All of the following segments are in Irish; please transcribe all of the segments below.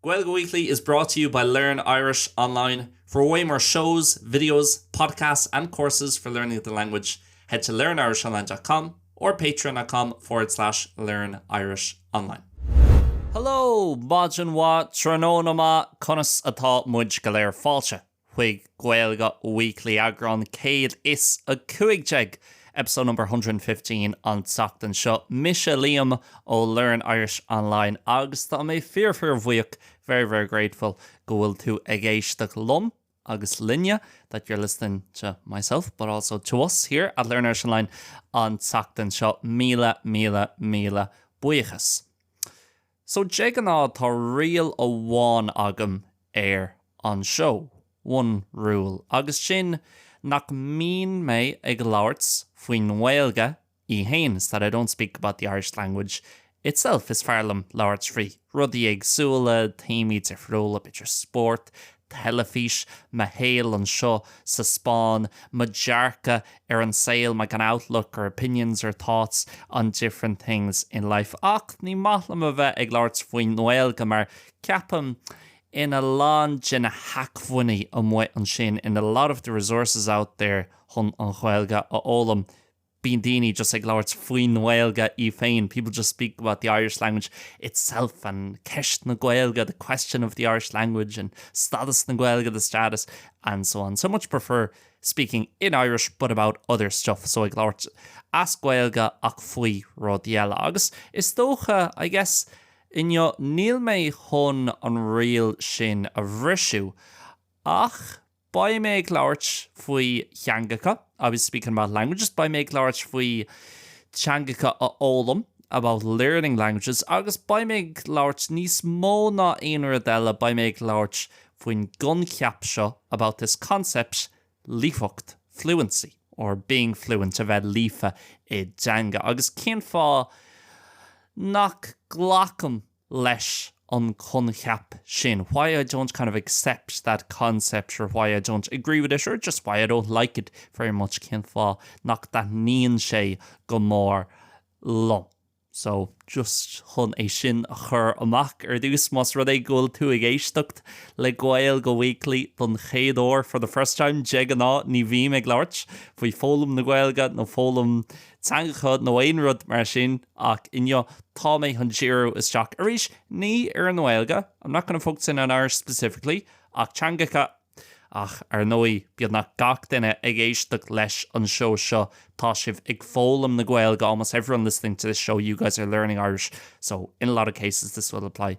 Gaeilge Weekly is brought to you by Learn Irish Online. For way more shows, videos, podcasts and courses for learning the language, head to learnirishonline dot com or patreon dot com forward slash learn irish online. Hello! Maidin mhaith, tráthnóna maith, conas atá muid go léir fáilte? chuig Gaeilge Weekly, eagrán 115, episode number 115, an tseachtain seo. Mise Liam ó Learn Irish Online agus tá mé fíor-fíor-bhuíoch, very very grateful, go bhfuil tú ag éisteacht liom agus linne, that you're listening to myself but also to us here at Learn Irish Online, an tseachtain seo. Míle, míle, míle buíochas. So de ghnáth tá riail amháin agam ar an seó, one rule, agus sin nach mbíonn mé ag labhairt faoin nGaeilge í fhéin, is that I don't speak about the Irish language itself. Is fearr liom labhairt faoi rudaí éagsúla, téamaí difriúla, b'fhéidir spórt, teilifís, mo shaol anseo sa Spáinn, mo dhearcadh ar an saol, my kind of outlook or opinions or thoughts on different things in life. Ach ní maith liom a bheith ag labhairt faoin nGaeilge mar ceapaim in a lán de na hacmhainní amuigh ansin, in a lot of the resources out there chun an Ghaeilge a fhoghlaim, bíonn daoine just ag labhairt faoin nGaeilge í féin, people just speak about the Irish language itself and ceist na Gaeilge, the question of the Irish language and stádas na Gaeilge, the status and so on. So much prefer speaking in Irish but about other stuff, so ag labhairt as Gaeilge ach faoi rudaí eile. Agus is dócha, I guess, inniu níl mé chun an riail sin a bhriseadh, ach Beidh mé ag labhairt faoi theangacha, I'll be speaking about languages. Beidh mé ag labhairt faoi teangacha a fhoghlaim, about learning languages. Agus beidh mé ag labhairt níos mó ná aon rud eile, beidh mé ag labhairt faoin gcoincheap seo, about this concept, líofacht, fluency, or being fluent, a bheith líofa i dteanga. Agus cén fáth nach nglacaim leis an gcoincheap sin, why I don't kind of accept that concept or why I don't agree with it or just why I don't like it very much, cén fáth nach dtaitníonn sé go mór liom. So, just chun é sin a chur amach ar dtús, más rud é go bhfuil tú ag éisteacht le Gaeilge Weekly don chéad uair, for the first time, de ghnáth ní bhím ag labhairt faoi foghlaim na Gaeilge nó foghlaim teangacha nó aon rud mar sin, ach inniu tá mé chun díriú isteach arís, ní ar an nGaeilge, I'm not going to focus in on Irish specifically, ach teangacha. Ach ar ndóigh, beagnach gach duine ag éisteacht leis an seó seo, tá sibh ag foghlaim na Gaeilge, almost everyone listening to this show, you guys are learning Irish, so in a lot of cases this will apply.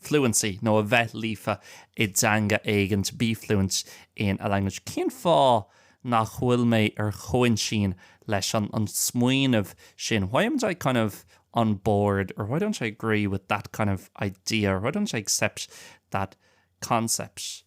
fluency, nó a bheith líofa i dteanga éigin, to be fluent in a language. Cén fáth nach bhfuil mé ar aon intinn leis an smaoineamh sin, why amn't I kind of on board or why don't I agree with that kind of idea or why don't I accept that concept?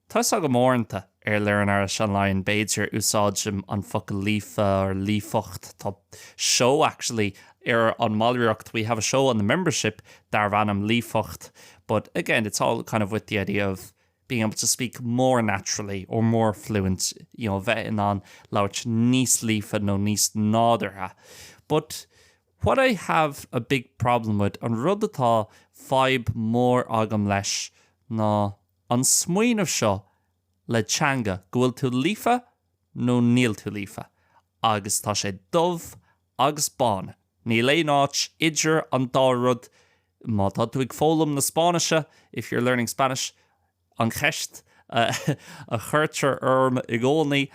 Tá a fhios agam uaireanta, ar Learn Irish Online, b'fhéidir, úsáidim an focal líofa or líofacht, tá show actually ar an mballraíocht, we have a show on the membership darbh ainm líofacht but again it's all kind of with the idea of being able to speak more naturally or more fluent, you know bheith in ann labhairt níos líofa nó níos nádúrtha but what I have a big problem with, an rud atá fadhb mhór agam leis ná. an smaoineamh seo le teanga, go bhfuil tú líofa nó níl tú líofa, agus tá sé dubh agus bán, níl aon áit idir an dá rud, má tá tú ag foghlaim na Spáinnise, if you're learning Spanish, an cheist a chuirtear orm i gcónaí,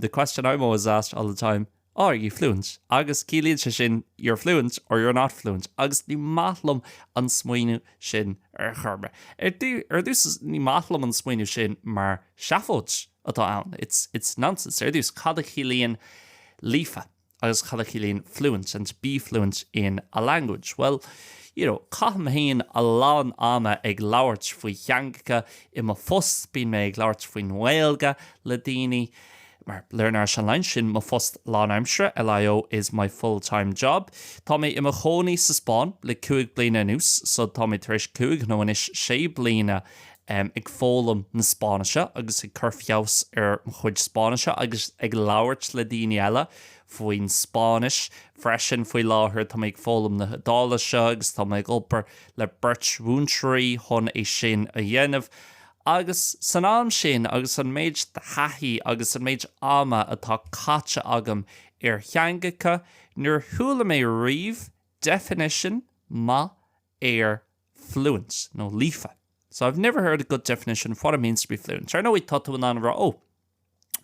the question I'm always asked all the time, are you fluent? agus ciallaíonn sé sin you're fluent or you're not fluent agus ní maith liom an smaoineamh sin ar chor ar bith. Ar dtús ní maith liom an smaoineamh sin mar seafóid atá ann, it's nonsense. Ar dtús, cad a chiallaíonn líofa agus cad a chiallaíonn fluent and to be fluent in a language? Bhuel, you know, caithim féin a lán ama ag labhairt faoi theangacha, i mo phost bíonn mé ag labhairt faoin nGaeilge le daoine, Mar Learn Irish Online sin mo phost lánaimsire LIO is my full time job. Tá mé i mo chónaí sa Spáinn le cúig bliana anuas so tá mé tar éis cúig nó anois sé bliana em ag foghlaim na Spáinnise agus ag cur feabhas ar mo chuid Spáinnise agus ag labhairt le daoine eile faoin Spáinnis freisin. Faoi láthair tá mé ag foghlaim na hIodáilise agus tá mé ag obair le beirt mhúinteoirí chun é sin a dhéanamh. Agus san am sin, agus an méid de thaithí agus an méid ama atá caite agam ar theangacha, níor chuala mé riamh definition maith ar fluent nó líofa. So, I've never heard a good definition of what it means to be fluent. Ar ndóigh, tá tú in ann a rá, oh,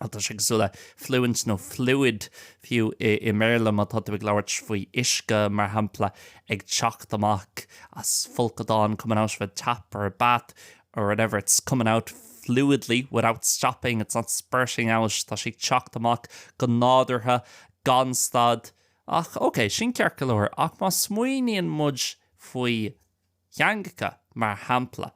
Bhuel, tá sé cosúil le fluent nó fluid fiú i mBéarla má tá tú ag labhairt faoi uisce, mar shampla, ag teacht amach as folcadán, coming out a tap or a bath or whatever, it's coming out fluidly, without stopping, it's not spurting out, tá sé ag teacht amach go nádúrtha, gan stad. Ach, ok, sin ceart go leor, ach má smaoiníonn muid faoi theangacha, mar shampla,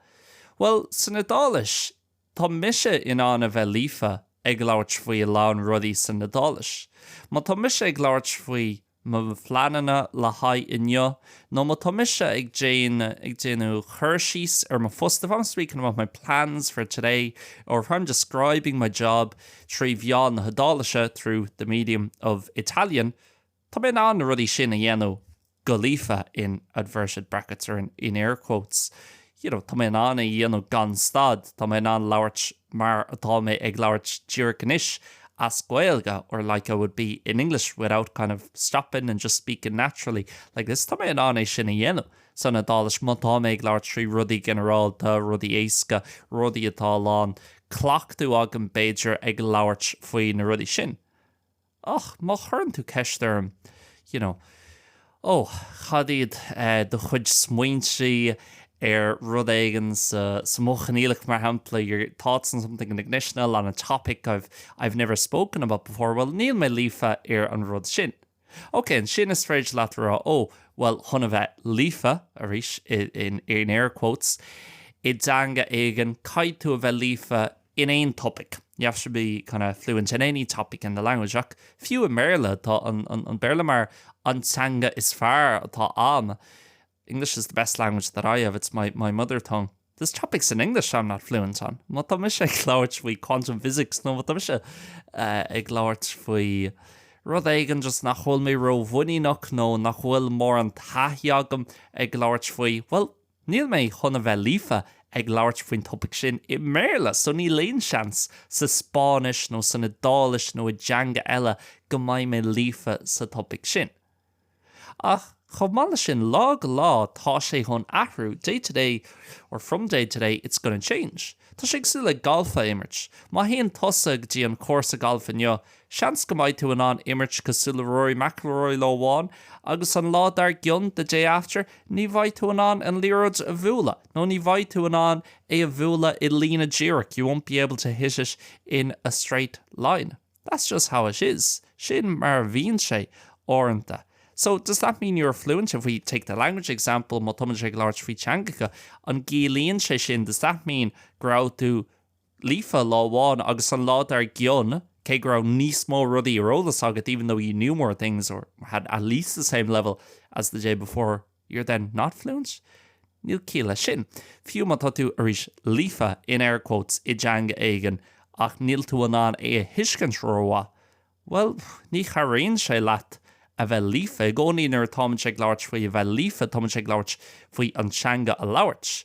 bhuel, san Iodáilis, Tá mise in ann a bheith líofa ag labhairt faoi a lán rudaí san Iodáilis. Má tá mise ag labhairt faoi mo phleananna le haghaidh inniu nó má tá mise ag déanamh cur síos ar mo phost, if I'm speaking about my plans for today or if I'm describing my job trí mheán na hIodáilise, through the medium of Italian, Tá mé in ann na rudaí sin a dhéanamh go líofa, in inverted brackets or in air quotes, you know, tá mé in ann é a dhéanamh gan stad, tá mé in ann labhairt mar atá mé ag labhairt díreach anois as Gaeilge or like I would be in English without kind of stopping and just speaking naturally like this, tá mé in ann é sin a dhéanamh san Iodáilis má tá mé ag labhairt faoi rudaí ginearálta, rudaí éasca, rudaí atá a lán cleachtadh agam b'fhéidir ag labhairt faoi na rudaí sin. Ach má chuireann tú ceist orm, you know, Ó, cad iad do chuid smaointí ar rud éigin sa, sa mhodh choinníollach, mar shampla, your thoughts on something in the conditional, on a topic I've, I've never spoken about before, bhuel, níl mé líofa ar an rud sin. Ok, ansin is féidir leat a rá, Ó, bhuel, chun a bheith líofa, arís, i, in, in air quotes, i dteanga éigin, caithfidh tú a bheith líofa in aon topic. You have to be kind of fluent in any topic in the language ach fiú i mBéarla, tá an Béarla mar an teanga is fearr atá ann. English is the best language that I have, it's my my mother tongue. There's topics in English I'm not fluent on. Má tá mise ag labhairt faoi quantum physics nó má tá mise ag labhairt faoi rud éigin just nach bhfuil mé ró-mhuiníneach nó nach bhfuil mórán taithí agam ag labhairt faoi, well, Níl mé chun a bheith líofa ag labhairt faoin topaic sin i mBéarla, so níl aon seans sa Spáinnis nó san Iodáilis nó i dteanga eile go mbeidh mé líofa sa topaic sin. Ach chomh maith leis sin, lá go lá tá sé chun athrú, day to day or from day to day it's gonna change. Tá sé cosúil le galf a imirt. Má théann tusa go dtí an cúrsa gailf inniu, Seans go mbeidh tú in ann imirt cosúil le Rory McIlroy lá amháin agus an lá dar gcionn, the day after, ní bheidh tú in ann an liathróid a bhualadh nó ní bheidh tú in ann é a bhualadh i líne díreach, you won't be able to hit it in a straight line. That's just how it is. Sin mar a bhíonn sé, uaireanta. So, does that mean you're fluent? If we take the language example, má táimidne ag labhairt faoi theangacha, an gciallaíonn sé sin, does that mean, go raibh tú Líofa lá amháin agus an lá dar gcionn, cé go raibh níos mó rudaí ar eolas agat even though you knew more things or had at least the same level as the day before, you're then not fluent? Níl ciall leis sin. Fiú má tá tú, arís líofa, in air quotes, i dteanga éigin ach níl tú in ann é a thuiscint rómhaith, bhuel, ní chabhraíonn sé leat a bheith líofa. I gcónaí nuair atáimidne ag labhairt faoi a bheith líofa, táimidne ag labhairt faoi an teanga a labhairt.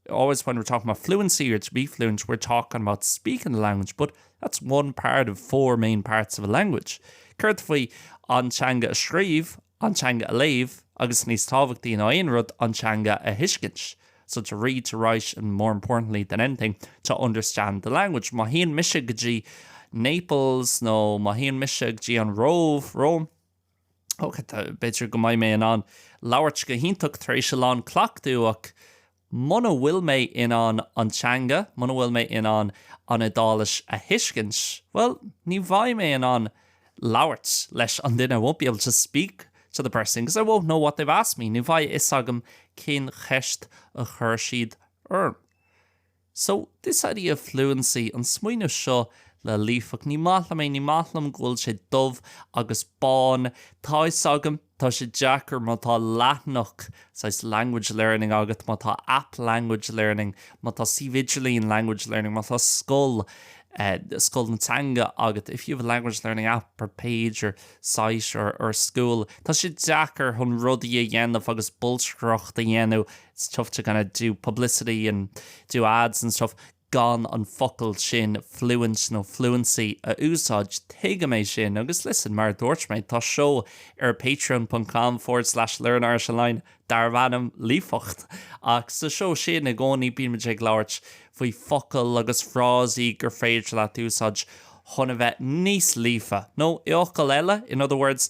Always when we're talking about fluency or to be fluent we're talking about speaking the language but that's one part of four main parts of a language. Céard faoi an teanga a scríobh, an teanga a léamh agus, níos tábhachtaí ná aon rud, an teanga a thuiscint? So to read, to write and, more importantly than anything, to understand the language. Má théann mise go dtí Naples nó má théann mise go dtí an Róimh, Rome, Ok, b'fhéidir go mbeidh mé in ann labhairt go hiontach tar éis a lán cleachtaidh ach muna bhfuil mé in ann an teanga, muna bhfuil mé in ann an Iodáilis a thuiscint, bhuel, ní bheidh mé in ann labhairt leis an duine, I won't be able to speak to the person because I won't know what they've asked me, ní bheidh a fhios agam cén cheist a chuir siad orm. So, this idea of fluency, an smaoineamh seo le líofacht, ní maith liom é, ní maith liom go bhfuil sé dubh agus bán. Tá fhios agam, tá sé deacair má tá leathanach saghas language learning agat, má tá app language learning, má tá suíomh idirlín language learning, má tá scoil, scoil na teanga, agat, if you have a language learning app or page or site or or school, tá sé deacair chun rudaí a dhéanamh agus bolscaireacht a dhéanamh It's tough to kind of do publicity and do ads and stuff gan an focal sin fluent nó fluency a úsáid. Tuigim é sin agus listen, mar a dúirt mé, tá seó ar patreon.com forward slash learnirish-online darbh ainm Líofacht ach sa seó sin i gcónaí bímid ag labhairt faoi focail agus frásaí gur féidir leat úsáid chun a bheith níos líofa nó i bhfocail eile, in other words,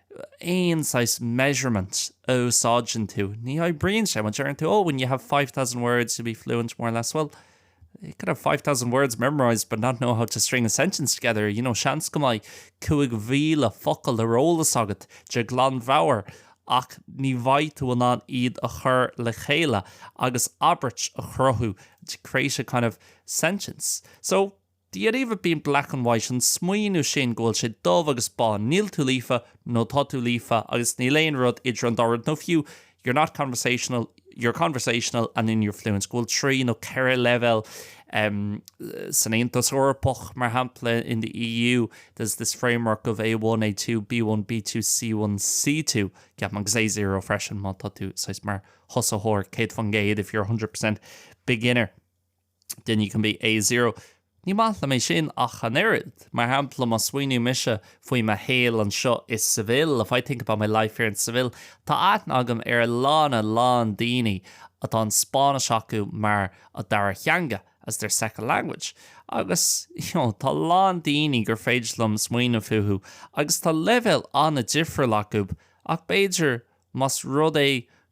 aon saghas measurement a úsáideann tú, ní oibríonn sé. Má deireann tú, oh, when you have five thousand words you'll be fluent, more or less, well, you could have five thousand words memorised but not know how to string a sentence together, you know, seans go mbeidh cúig mhíle focal ar eolas agat de ghlanmheabhair ach ní bheidh tú in ann iad a chur le chéile agus abairt a chruthú, to create a kind of sentence. So. The idea of being black and white, an smaoineamh sin go bhfuil sé dubh agus bán, níl tú líofa nó tá tú líofa agus níl aon rud idir an dá rud nó fiú you're not conversational, you're conversational and you're fluent, go bhfuil trí nó ceithre leibhéal san Aontas Eorpach mar shampla in the EU there's this framework of A1, A2, B1, B2, C1, C2 ceapaim agus A0 freisin má tá tú saghas mar thosaitheoir céad faoin gcéad if you're 100% beginner. Then you can be A zero. Ní maith liom é sin ach an oiread. Mar shampla, má smaoiníonn mise faoi mo shaol anseo i Seville, if I think about my life here in Seville, tá aithne agam ar a lán, a lán daoine atá an Spáinnis acu mar a dara theanga, as their second language. Agus, you know, tá a lán daoine gur féidir liom smaoineamh fúthu agus tá leibhéal an-difriúil acu ach b'fhéidir más rud é go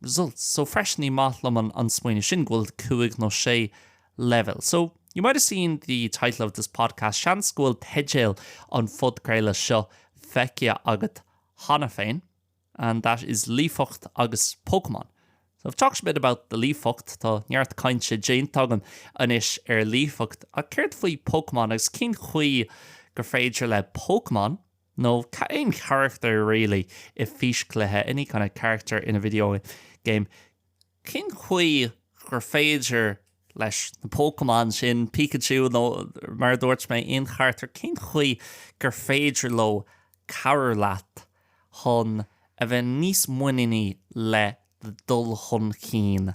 results. So freisin ní maith liom an smaoineamh sin go bhfuil cúig nó sé leibhéal. So, you might have seen the title of this podcast, seans go bhfuil teideal an phodcraoladh seo feicthe agat cheana féin, and that is Líofacht agus Pokémon. So I've talked a bit about the líofacht, tá neart cainte déanta agam anois ar líofacht, ach céard faoi Pokémon agus cén chaoi gur féidir le Pokémon, nó aon charachtar really i fís chluiche, any kind of character in a video game, cén chaoi gur féidir leis na Pokémon sin, Pikachu nó mar a dúirt mé, aon charachtar, cén chaoi gur féidir leo cabhrú leat chun a bheith níos muiníní le do dhul chun cinn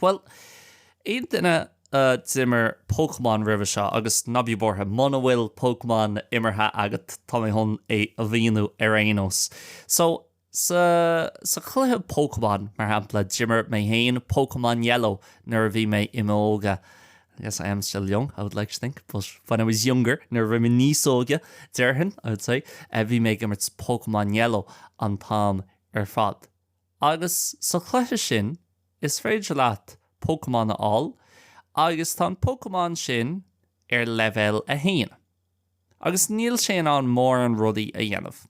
Bhuel, aon duine a d'imir Pokémon roimhe seo, agus ná bí buartha, muna bhfuil Pokémon imeartha agat, tá mé chun é a mhíniú ar aon nós. So, sa, sa chluiche Pokémon, mar shampla, d'imir mé féin Pokémon Yellow nuair a bhí mé i m'óga, I guess I am still young, I would like to think, but when I was younger, nuair a bhí mé níos óige, déarfainn, I would say, eh, bhí mé ag imirt Pokémon Yellow an t-am ar fad. Agus sa chluiche sin, is féidir leat Pokémon a fháil agus tá an Pokémon sin ar leibhéal 1. Agus níl sé in ann mórán rudaí a dhéanamh.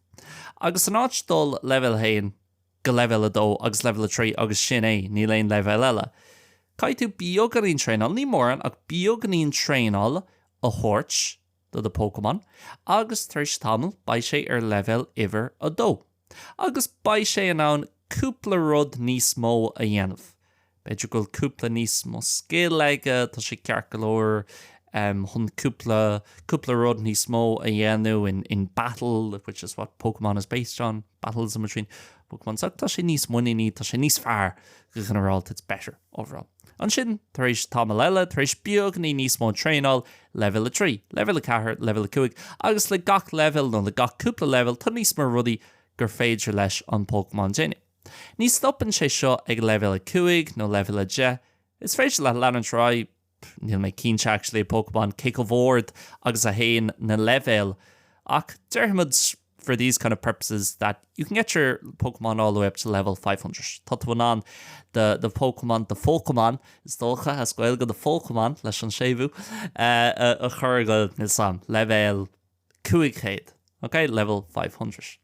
Agus in áit dul leibhéal 1 go leibhéal 2 agus leibhéal 3 agus sin é, níl aon leibhéal eile, caithfidh tú beagáinín traenáil, ní mórán ach beagáinín traenáil a thabhairt do the Pokémon agus tar éis tamaill beidh sé ar leibhéal uimhir 2. Agus beidh sé in ann cúpla rud níos mó a dhéanamh. B'fhéidir go bhfuil cúpla níos mó scil aige, tá sé ceart go leor chun cúpla, cúpla rud níos mó a dhéanamh in battle, which is what Pokémon is based on. Battles in between Pokémon so tá sé níos muiníní, tá sé níos fearr go ginearálta, it's better overall. Ansin, tar éis tamaill eile, tar éis beagáinín níos mó traenáil, leibhéal a trí, leibhéal a ceathair, leibhéal a cúig, agus le gach leibhéal nó le gach cúpla leibhéal tá níos mó rudaí gur féidir leis an Pokémon déanamh. Ní stopann sé seo ag leibhéal a cúig nó leibhéal a deich, is féidir leat leanúint ar aghaidh, pff, níl mé cinnte actually, Pokémon cé chomh ard agus a théann na leibhéil ach déarfaimid for these kind of purposes that you can get your Pokémon all the way up to level 500. Tá tú in ann the, the Pokémon, the Pokémon, is dócha as Gaeilge an Phokémon leis an séimhiú uh, a, a chur go níl's agam leibhéal 500, okay, level 500.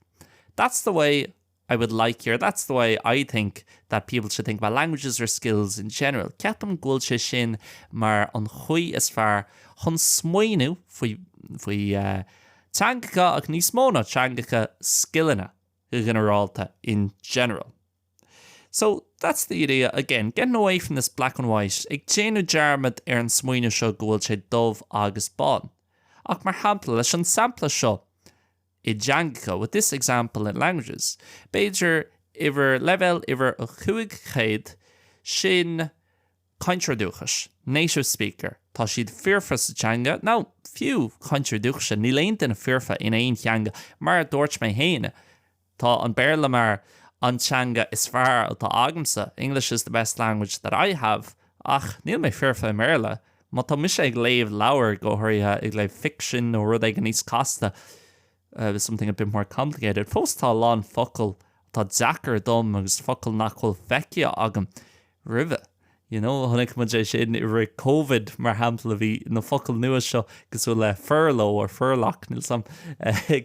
That's the way I would like your that's the way I think that people should think about languages or skills in general. Ceapaim go bhfuil sé sin mar an chaoi is fearr chun smaoineamh faoi faoi teangacha ach níos mó ná teangacha, scileanna go ginearálta in general. So, that's the idea. Again, getting away from this black and white, ag déanamh dearmad ar an smaoineamh seo go bhfuil sé dubh agus bán. Ach mar shampla, leis an sampla seo, i dteangacha, with this example in languages, b'fhéidir uimhir, leibhéal uimhir a cúig chéad, sin cainteoir dúchais, native speaker, tá siad foirfe sa teanga, nó fiú cainteoir dúchais, níl aon duine foirfe in aon teanga, mar a dúirt mé féin, tá an Béarla mar an teanga is fearr atá agamsa, English is the best language that I have, ach níl mé foirfe i mBéarla. Má tá mise ag léamh leabhair, go háirithe ag léamh ficsin nó rud éigin níos casta, something a bit more complicated, fós tá a lán focail atá deacair dom agus focail nach bhfuil feicthe agam roimhe. You know, chonaic muid é sin i rith Covid, mar shampla, bhí na focail nua seo cosúil le furlough nó furlock, níl 's 'am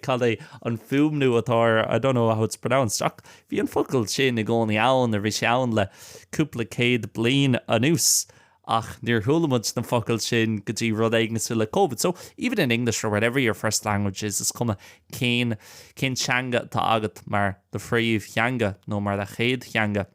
cad é an fuaimniú atá air, I don't know how it's pronounced, ach bhí an focal sin i gcónaí ann, nó bhí sé ann le cúpla céad bliain anuas. Ach níor chuala muid na focail sin go dtí rud éigin cosúil le Covid. So, even in English or whatever your first language is, is cuma cén teanga atá agat mar do phríomhtheanga nó mar do chéad theanga,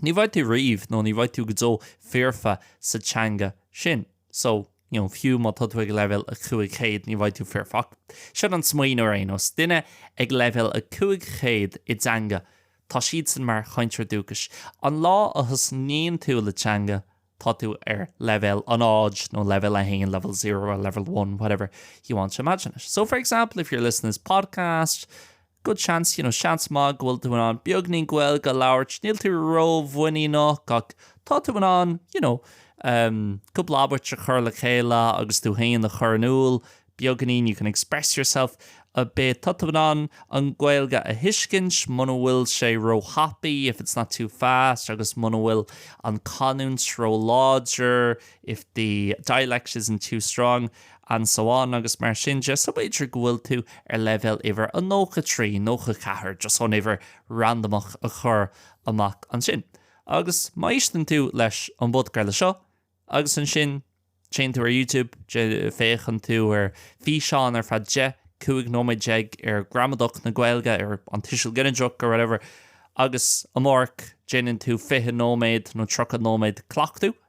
ní bheidh tú riamh nó ní bheidh tú go deo foirfe sa teanga sin. So, you know, fiú má tá tú ag leibhéal a cúig chéad, ní bheidh tú foirfe. Ach sin an smaoineamh ar aon nós. Duine ag leibhéal a cúig chéad i dteanga, Tá siadsan mar chainteoir dúchais. An lá a thosnaíonn tú le teanga, tá tú ar leibhéal a náid, nó leibhéal a haon, level zero, or level one, whatever you want to imagine it. So, for example, if you're listening to this podcast, good chance, you know, seans maith go bhfuil tú in ann beagainín Gaeilge a labhairt, níl tú ró-mhuiníneach ach tá tú in ann, you know, um, cúpla abairt a chur le chéile agus tú féin a chur in iúl Beagáinín you can express yourself a bit tá tú in ann an Ghaeilge a thuiscint muna bhfuil sé róthapaidh if it's not too fast agus muna bhfuil an canúint róláidir if the dialect isn't too strong and so on agus mar sin de. So b'fhéidir go bhfuil tú ar leibhéal uimhir a 93, 94 just chun uimhir randamach a chur amach ansin. Agus má éisteann tú leis an bpodcraoladh seo, Agus ansin, téann tú ar YouTube, féachann tú ar físeán ar feadh deich, cúig nóiméad déag ar ghramadach na Gaeilge, ar an tuiseal ginideach, ar whatever, agus amárach, déanann tú fiche nóiméad nó tríocha nóiméad cleachtadh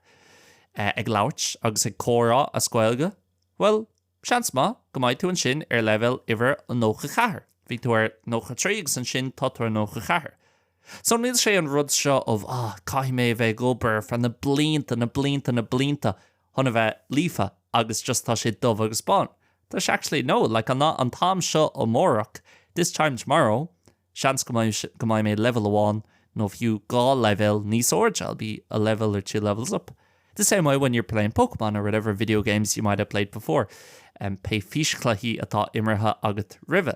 ag labhairt agus ag comhrá as Gaeilge. Bhuel, Seans maith go mbeidh tú ansin ar leibhéal uimhir a 94. Bhí tú ar 93 agus ansin tá tú ar 94. So níl sé an rud seo of ah caithfidh mé a bheith ag obair ar feadh na blianta, na blianta, na blianta chun a bheith líofa agus just tá sé dubh agus bán. Tá sé actually no, like an an t-am seo amárach, this time tomorrow, Seans go mbeidh mé leibhéal amháin nó fiú dhá leibhéal níos airde, I'll be a level or two levels up. The same way when you're playing Pokémon or whatever video games you might have played before, pé físchluichí atá imeartha agat roimhe.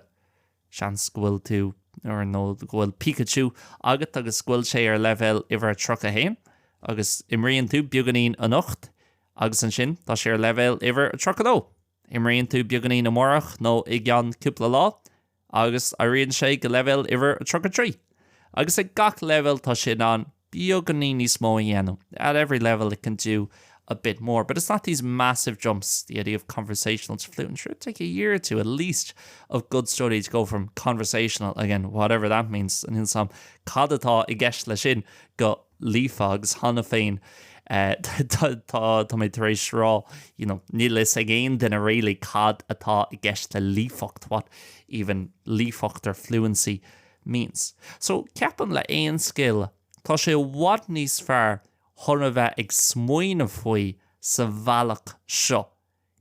Seans go bhfuil tú, or nó go bhfuil Pikachu agat agus go bhfuil sé ar leibhéal uimhir a 31, agus imríonn tú beagáinín anocht, agus ansin tá sé ar leibhéal uimhir a 32. Imríonn tú beagáinín amárach nó i gceann cúpla lá agus éiríonn sé go leibhéal uimhir a 33. Agus ag gach leibhéal tá sé in ann beagáinín níos mó a dhéanamh, at every level it can do a bit more, but it's not these massive jumps, the idea of conversational to fluent, sure it'll take a year or two at least of good study to go from conversational, again whatever that means, níl fhios agam cad atá i gceist leis sin go líofa agus cheana féin tá mé tar éis rá you know níl fhios ag aon duine really cad atá i gceist le líofacht what even líofacht or fluency means. So ceapaim le aon scil tá sé i bhfad níos fearr chun a bheith ag smaoineamh faoi sa bhealach seo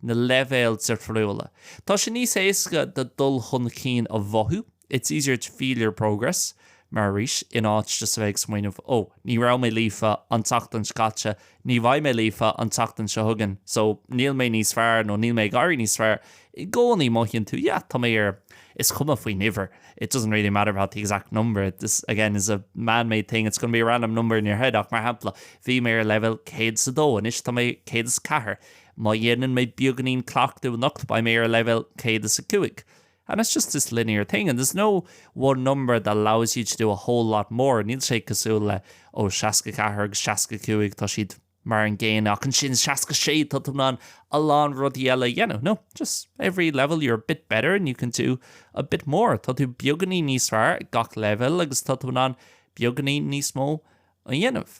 na leibhéil difriúla. Tá sé níos éasca do dul chun cinn a mhothú, it's easier to feel your progress, mar arís, in áit just a bheith ag smaoineamh, oh, ní raibh mé líofa an tseachtain seo caite, ní bheidh mé líofa an tseachtain seo chugainn, so níl mé níos fearr nó níl mé ag éirí níos fearr, i gcónaí mothaíonn tú, yeah, tá mé ar, is cuma faoin uimhir, it doesn't really matter about the exact number, this, again, is a man-made thing, it's going to be a random number in your head, ach mar shampla, bhí mé ar leibhéal 102, anois tá mé 104. Má dhéanann mé beagáinín cleachtadh anocht beidh mé ar leibhéal céad is a cúig and it's just this linear thing and there's no one number that allows you to do a whole lot more. Níl sé cosúil le ó seasca a ceathair agus seasca a cúig tá siad mar an gcéanna ach ansin seasca a sé tá tú in ann a lán rudaí eile a dhéanamh. No, just every level you're a bit better and you can do a bit more. Tá tú beagáinín níos fearr ag gach leibhéal agus tá tú in ann beagáinín níos mó a dhéanamh.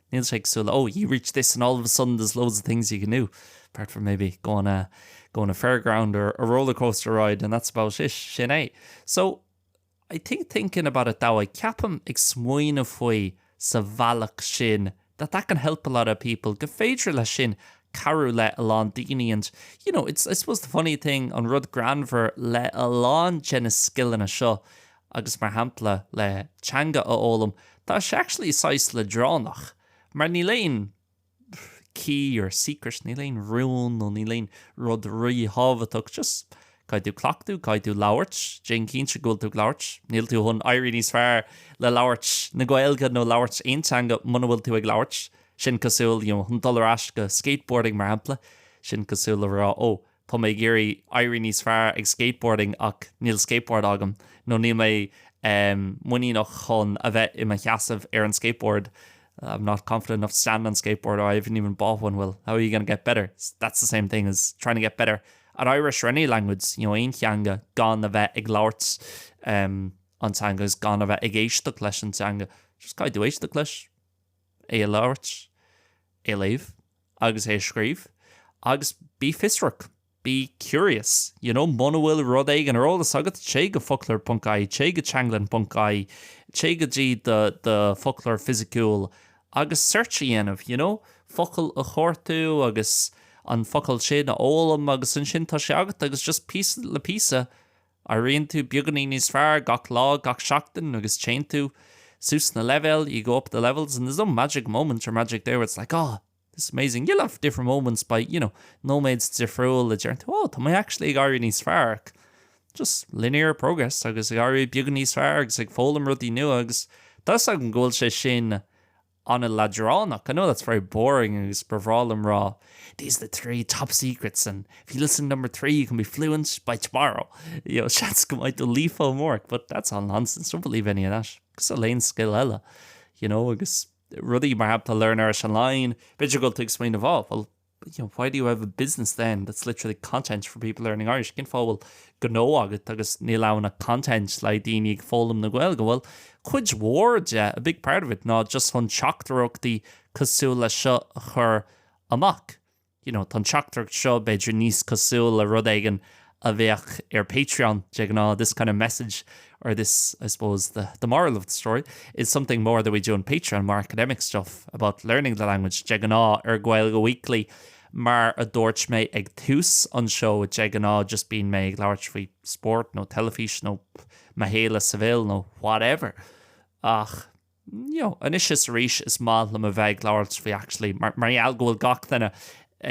Níl sé cosúil, oh, you reach this and all of a sudden there's loads of things you can do, apart from maybe go on a, go on a fairground or a roller coaster ride and that's about it, sin é. So, I think thinking about it that way, ceapaim, ag smaoineamh faoi sa bhealach sin, that that can help a lot of people, go féidir leis sin cabhrú le a lán daoine and, you know, it's, I suppose the funny thing, an rud greannmhar le a lán de na scileanna seo, agus mar shampla le teanga a fhoghlaim, tá sé actually saghas leadránach, mar níl aon key or secret, níl aon rún nó níl aon rud rí-thábhachtach, just caithfidh tú cleachtadh, caithfidh tú labhairt, déan cinnte go bhfuil tú ag labhairt, níl tú chun éirí níos fearr le labhairt na Gaeilge nó labhairt aon teanga muna bhfuil tú ag labhairt, sin cosúil, you know, chun dul ar ais go skateboarding mar shampla, sin cosúil le rá, oh, Tá mé ag iarraidh éirí níos fearr ag skateboarding ach níl skateboard agam, nó níl mé muiníneach chun a bheith i mo sheasamh ar an skateboard, I'm not confident enough to stand on skateboard or I haven't even bought one, well, how are you going to get better? That's the same thing as trying to get better at Irish or any language, you know, aon theanga, gan a bheith ag labhairt an teanga agus gan a bheith ag éisteacht leis an teanga. Just caithfidh tú éisteacht leis. é a labhairt, é a léamh agus é a scríobh agus bí fiosrach, be curious, you know, muna bhfuil rud éigin ar eolas agat, téigh go focloir ponc ie, téigh go teanglann ponc ie, téigh go dtí do, do foclóir fisiciúil agus search a dhéanamh, you know, focal a chuartú agus an focal sin a fhoghlaim agus ansin tá sé agat agus just píosa le píosa, Éiríonn tú beagainín níos fearr gach lá, gach seachtain agus téann tú suas sna leibhéil, you go up the levels, and there's no magic moment or magic day where it's like, oh, this is amazing. You'll have different moments by, you know, nóiméad difriúil a déarfaidh tú, oh, tá mé actually ag éirí níos fearr just linear progress agus ag éirí beagainín níos fearr agus ag foghlaim rudaí nua agus tá 'fhios agam go bhfuil sé sin an-leadránach. I know that's very boring agus ba bhreá liom rá these are the three top secrets and if you listen to number three you can be fluent by tomorrow. You know, seans go mbeidh tú líofa amárach but that's all nonsense, don't believe any of that. Cosúil le haon scil eile, you know, agus rudaí mar shampla learn Irish online, b'fhéidir go bhfuil tú ag smaoineamh, oh, well, you know, why do you have a business then that's literally content for people learning Irish? Cén fáth a bhfuil gnó agat agus níl ann ach content le daoine ag foghlaim na Gaeilge? Bhuel, cuid mhór de, a big part of it, ná just chun teachtaireachtaí cosúil leis seo a chur amach. You know, tá an teachtaireacht seo b'fhéidir níos cosúil le rud éigin a bheadh ar Patreon de ghnáth, this kind of message or this, I suppose, the the moral of the story is something more that we do on Patreon, more academic stuff about learning the language de ghnáth ar Gaeilge Weekly mar a dúirt mé ag tús an seó de ghnáth just bíonn mé ag labhairt faoi sport nó telefís nó mo shaol i Seville nó whatever ach you know, anois is arís is maith liom a bheith ag labhairt faoi actually mar gheall go bhfuil gach duine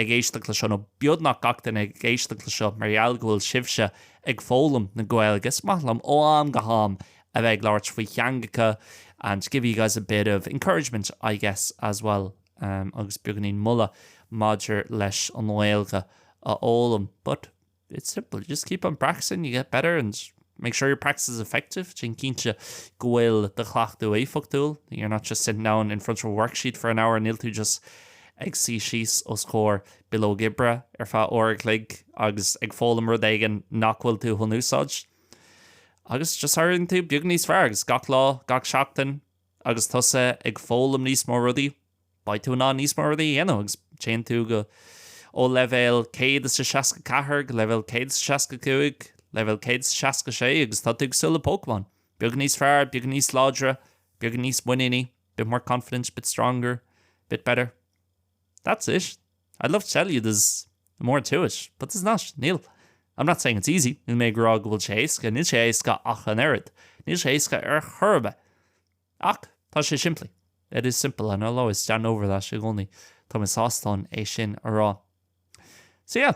ag éisteacht le seo nó beagnach gach duine ag éisteacht le seo mar gheall go bhfuil sibhse ag foghlaim na Gaeilge is maith liom ó am go ham a bheith ag labhairt faoi theangacha and give you guys a bit of encouragement I guess as well um, agus beagainín moladh maidir leis an nGaeilge a fhoghlaim but It's simple, just keep on practising, you get better and make sure your practice is effective, déan cinnte go bhfuil do chleachtadh éifeachtúil, you're not just sitting down in front of a worksheet for an hour, níl tú just ag suí síos os comhair bileog oibre ar feadh uair a chloig agus ag foghlaim rud éigin nach bhfuil tú chun úsáid. Agus just éiríonn tú beag níos fearr agus gach lá, gach seachtain, Agus tusa ag foghlaim níos mó rudaí, beidh tú in ann níos mó rudaí a dhéanamh agus téann tú go ó level céad is a seasca ceathair go level céad is a seasca cúig, level céad is a seasca sé agus tá tú cosúil le Pokémon. Beag níos fearr, beag níos láidre, beag níos muiníní, bit more confident, bit stronger, bit better. that's it. I'd love to tell you there's more to it, but there's not, níl. I'm not saying it's easy, níl mé ag rá go bhfuil sé éasca, níl sé éasca ach an oiread, níl sé éasca ar chor ar bith. Ach tá sé simplí. It is simple and I'll always stand over that i gcónaí. Tá mé sásta é sin a rá. So yeah,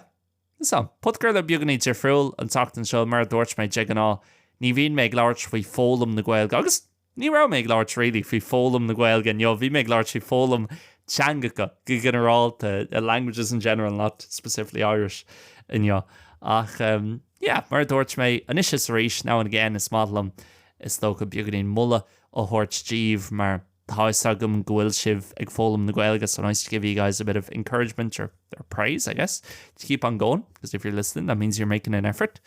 So podchraoladh beagáinín difriúil an tseachtain seo. Mar a dúirt mé, de ghnáth ní bhím ag labhairt faoi foghlaim na Gaeilge, agus ní raibh mé ag labhairt really faoi foghlaim na Gaeilge inniu, bhí mé ag labhairt faoi foghlaim teangacha go ginearálta, languages in general, not specifically Irish inniu. Ach em yeah, mar a dúirt mé, anois is arís, now and again, is maith liom, is dócha, beagáinín moladh a thabhairt díbh mar, Tá fhios agam go bhfuil sibh ag foghlaim na Gaeilge so nice to give you guys a bit of encouragement or or praise I guess to keep on going because if you're listening that means you're making an effort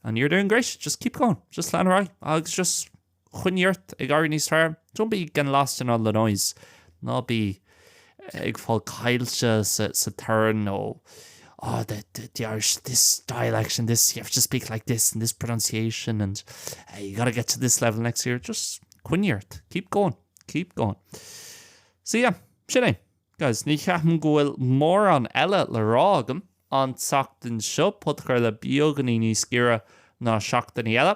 and you're doing great just keep going just lean ar aghaidh agus just choinnigh ort ag éirí níos fearr don't be getting lost in all the noise ná bí ag fáil caillte sa torann nó oh the Irish, this dialect and this, you have to speak like this and this pronunciation and you gotta get to this level next year, just coinnigh ort, keep going, keep going. So yeah, sin é. Guys, ní cheapaim go bhfuil mórán eile le rá agam an tseachtain seo, podchraoladh beagáinín níos giorra ná seachtainí eile.